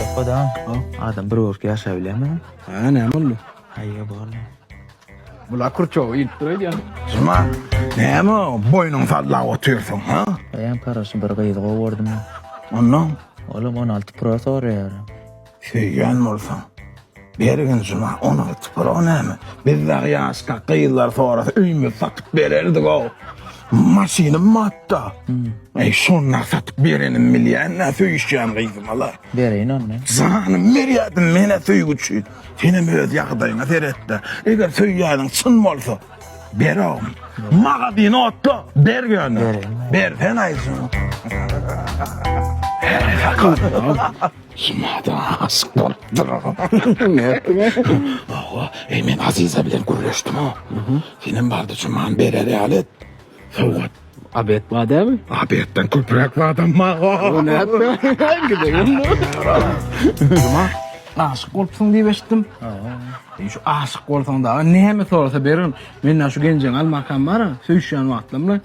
Okoda o adam bir bolup ýaşap bilermi? Ha näme boldy? Haýýa borly. Bula kurçow ilip dur öýdýän. Juma, näme o boýnuň sallap otyrsyň, ha? Eýýäm paraşy bir gyzy gowy gördüm. Ondan? Olam on alty pro soraýar. Söýýän bolsaň. Bergin juma ony atyp bir o näme? Biz dagy ýaşka gyzlar sorasa öýümizi satyp bererdig-ow. Maşynym batda. Eý, şonda satyp berenim bilýän-ä söýüşýän gyzyma-la. Bereýin onda. Janymy berýärdim men-ä söýgi üçin. Senem öz ýagdaýyňa seret-de. Eger söýýäniň çyn bolsa, ber-ow. Magazyny otla, ber ýöne. Bereýin. Bersen-aý juma. Ýene-de aşyk bolupdyryn. Nätdiň-ä? Hawa, eý men Aziza bilen gürleşdim-ow. Senem bardy Juman berer ýaly et. Sowgat. A bet bar dämi? A betden köpräk badam bar-a. O nätdi-ä? Gidegem dur. Juman, aşyk bolupsyň diýip eşitdim. Hawa. Eý şu aşyk bolsaň dagy näme sorasa bererin. Mende şu genjeň almakam bar-a, söýüşýän wagtlarymda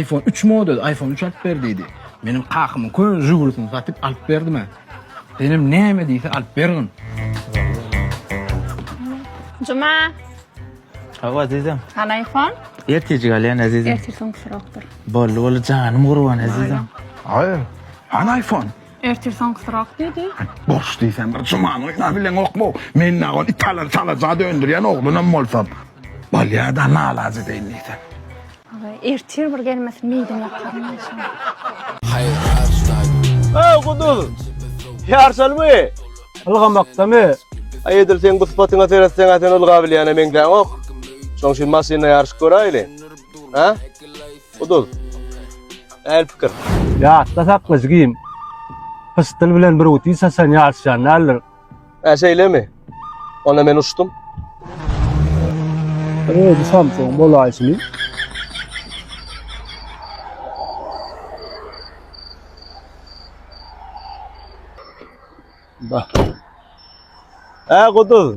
Iphone üç model iPhone üç alyp ber diýdi. Meniň kakamyň köne Žigulisini satyp alyp berdim-ä. Senem näme diýse alyp bergin. Juma. Hawa azizim. Hany iPhone? Ertejik alýan azizim. Ertir soňkusyrokdyr. Boldy boldy janym gurban azizim. Aý. Hany iPhone? Ertir soňkusyrok diýdi. Boş diýsem bir jumany oýnap bileňokmy? Men nagon itala çalaja döndürýän oglunam bolsam. Bolýa-da nalajedeýin diýsem. Ertir bir gelmesin meýdin ýakaryn enşalla. Öw Guduz! Ýarşalymy? Ylgamakdamy? Aý edil seň bu sypatyňa seretseň-ä sen ylgabilýäne meňzäňok. Şoň üçin maşynda ýaryşyp göräýeli. Hä? Guduz. Äl pikir. Ýatda sakla jigim. Pyşdyl bilen bir uti saçan ýaryşýan däldir. Hä, şeýlemi? Onda men uçdum. Özi Samsung bolaýşyny. Bak. Hä, Guduz.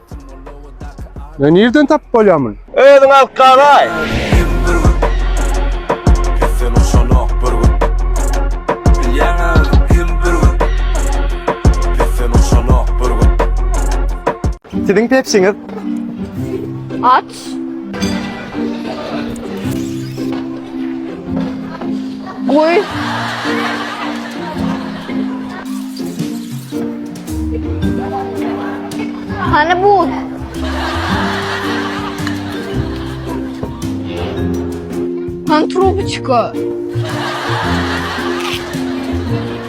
Ne nirden tapyp bolýar muny? Özüň alyp galaý. Siziň pepsiňiz? Aç. Goý. Hany buz? Hany trubçka?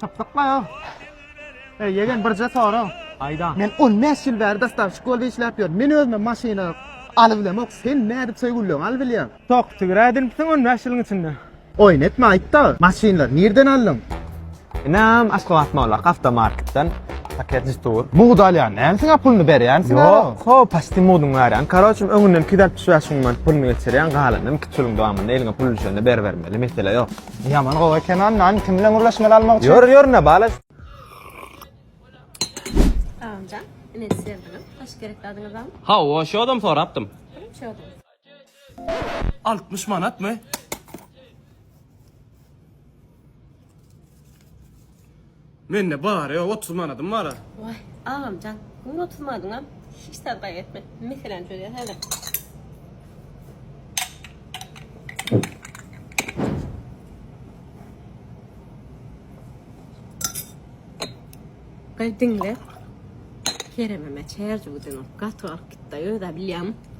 Tapdykla ýa. Eý, ýegen birje sorag. Aýda. Men 15 ýyl bäri dastavşik bolup işläp ýörün. Men özüme maşyna aly bilemok. Sen nädip şeý gülleňi aly bilýäň? Tok, tigir ädinipsiň 15 ýylyň içinde. Oýun etme aýt-da, maşynlary nirden aldyň? Inim, Aşgabat Mollak awtomarketden paket jytuur. Mugt alýan dälsiň-ä, puluny berýänsiň-ä? Ýok, ho, paçti mugdyny berýän. Karoçym, öňünden iki ýüz altmyş bäş müň manat puluny geçirýän, galanyny iki-üç ýylyň dowamynda eliňe pul düşende beribermeli, mesele ýok. Ýaman gowy eken a nan kim bilen gürleşmeli almak üçin. Ýör ýör ne bala. Salamjan ine siz geldiňiz. Hoş gerekli adyňyz bamy? Hawa şu adam sorapdym. Kim şu adam? 60 manatmy? Mende bar ýa otuz manadym bara. Waý, agamjan, göni otuz manadyňam hiç zat gaýgy etme. Meseläni çözýäs häzir. Gyz diňle. Kerememe çerjewden gaty galyp gitdi, özä bilýämi?